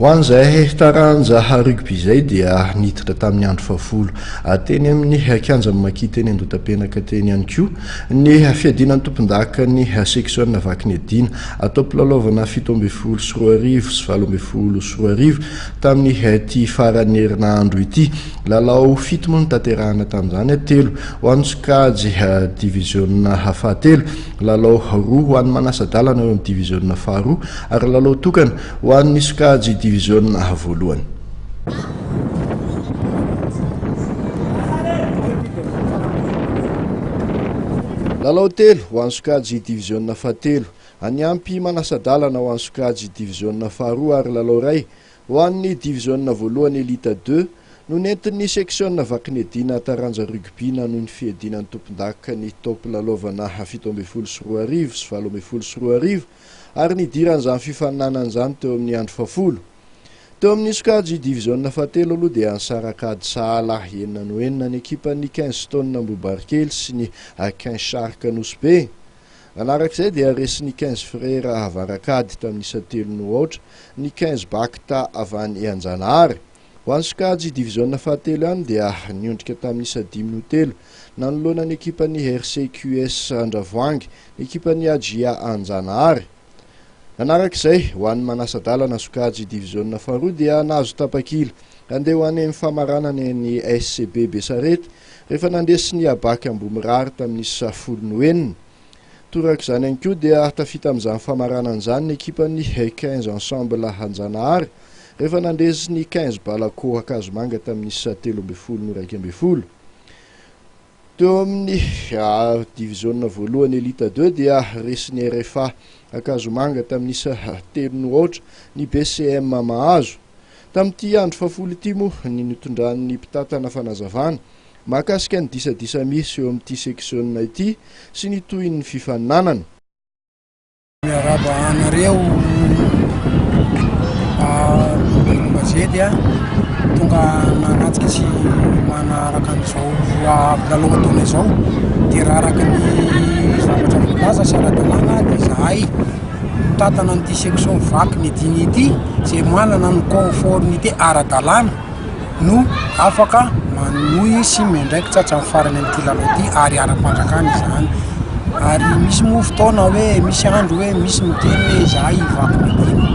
Ho an'izay taranja rugby izay dia niditra tamin'ny andro fahafolo teny amin'ny kianjan'i Maki teny Andotapenaka teny ihany koa ny fiadiana ny tompondakan'ny seksiona Vakiniadiana atao am-pilalaovana fito ambin'ny folo sy roa arivo sy valo ambin'ny folo sy roa arivo tamin'ity faran'ny herinandro ity. Lalao fito moa no tanterahina tamin'izany, telo ho an'ny sokajy diviziona fahatelo, lalao roa ho an'ny manasa-dalana eo amin'ny diviziona faharoa ary lalao tokana Ho an'ny sokajy diviziona A voalohany. Lalao telo ho an'ny sokajy diviziona fahatelo. Any ampy manasa-dalana ho an'ny sokajy diviziona faharoa ary lalao iray ho an'ny diviziona voalohany Elite Deux no nentin'ny seksiona Vakinedina taranja rugby nanohy ny fiadiana ny tompondaka ny taom-pilalaovana fito ambin'ny folo sy roa arivo sy valo ambin'ny folo sy roa arivo ary nidiran'izany fifaninanana izany teo amin'ny andro fahafolo. Teo amin'ny sokajy diviziona fahatelo aloha dia nisaraka ady sahala enina no enina ny ekipan'ny Kensington Ambohibarikely sy ny Aquin Shark Nosy-Be. Nanaraka izay dia resin'ny Quinze Frères avarak'ady tamin'ny isa telo no aotra ny Quinze Bacta avy any Anjanahary. Ho an'ny sokajy diviziona fahatelo ihany dia niondrika tamin'ny isa dimy no telo nanoloana ny ekipan'ny RCQS Andravoahangy ny ekipan'ny AJA Anjanahary. Nanaraka izay, ho an'ny Manasa-dalana sokajy diviziona faharoa dia nahazo tapakila handeha ho any amin'ny famaranana eny SCB Besarety rehefa nandresy ny Abac Ambohimirary tamin'ny isa folo no enina Torak'izany ihany koa dia tafita amin'izany famaranana izany ny ekipan'ny quinze Ensemble Anjanahary rehefa nandresy ny quinze Balako Ankazomanga tamin'ny isa telo ambin'ny folo noraika ambin'ny folo. Teo amin'ny diviziona voalohany Elite deux dia resin'ny RFA Ankazomanga tamin'ny isa telo no aotra ny BCM Mahazo. Tamin'ity andro fahafolo ity moa ny nitondran'ny mpitantana fanazavana mahakasika ny disadisa misy eo amin'ity seksiona ity sy ny tohin'ny fifaninanana. Miarahaba anareo mpanao gazety a, tonga nanatrika sy manaraka an'izao avy lalao ataona izao dia raha araka ny zavatra voalaza sy ara-dalàna dia izahay mitantana an'ity section vaky ny dimy ity izay manana ny conformité ara-dalàna. no afaka manohy sy miandraikitra tsy tratran'ny farany amin'ity lalao ity ary ara-panjakana izany ary misy moa fotoana hoe misy andro hoe misy miteny hoe izahay hivaky ny adino,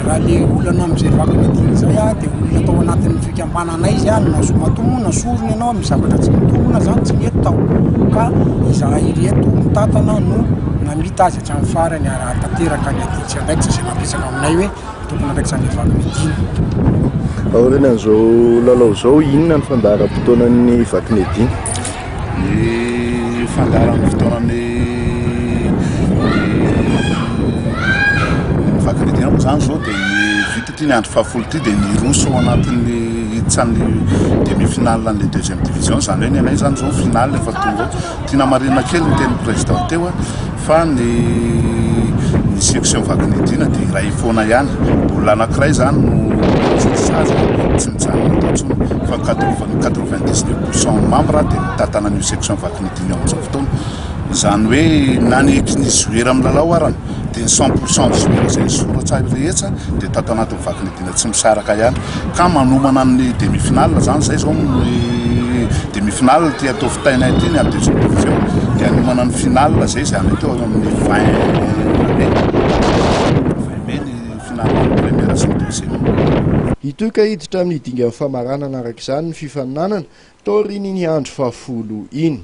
raha le olana amin'izay vaky ny adino izay ah de olona tao anatin'ny fikambananay zany na soa matomoa na sorona ianao amin'ny zavatra tsy mitombina zany tsy nety tao ka izahay ireto mitantana no namita azy hatramin'ny farany ary hahatanteraka ny adintsika ndraikitra izay nampiresaka aminay hoe. Tompon'andraikitran'ny Vakimedina. Aorianan'izao lalao izao, inona ny fandaharam-potoanan'ny Vakimedina? Ny fandaharam-potoanan'ny Vakimedina moa izany izao dia ny vita ity ny andro fahafolo ity dia ny hiroso ao anatin'ny hiditra ny demi-finale an'ilay deuxième division, izany hoe ny anay izany izao final efa tonga ao. Tiana marihina kely ny tenin'ny Président teo fa ny ny section vaky ny Dina dia iray foana ihany. Olona anankiray izany no mijotso sazy tsy mijanona eto intsony fa ny quatre-vingt- quatre-vingt-dix neuf pour cent membres dia mitantana an'io section vaky ny Dina io amin'izao fotoana. Izany hoe na ny ekin'ny joueur milalao arany dia ny cent pour cent ny joueur izay nisoratra rehetra dia tato anatin'ny vaky ny Dina. tsy misaraka ihany ka manomana ny demi finale zany zay zao ny demi finale ty atao fitaina ity ny ady zao dia hanomana ny finale zay zay any atao amin'ny Hitohy ka hiditra amin'ny dingan'ny famaranana araka izany ny fifaninanana taorian'iny andro fahafolo iny.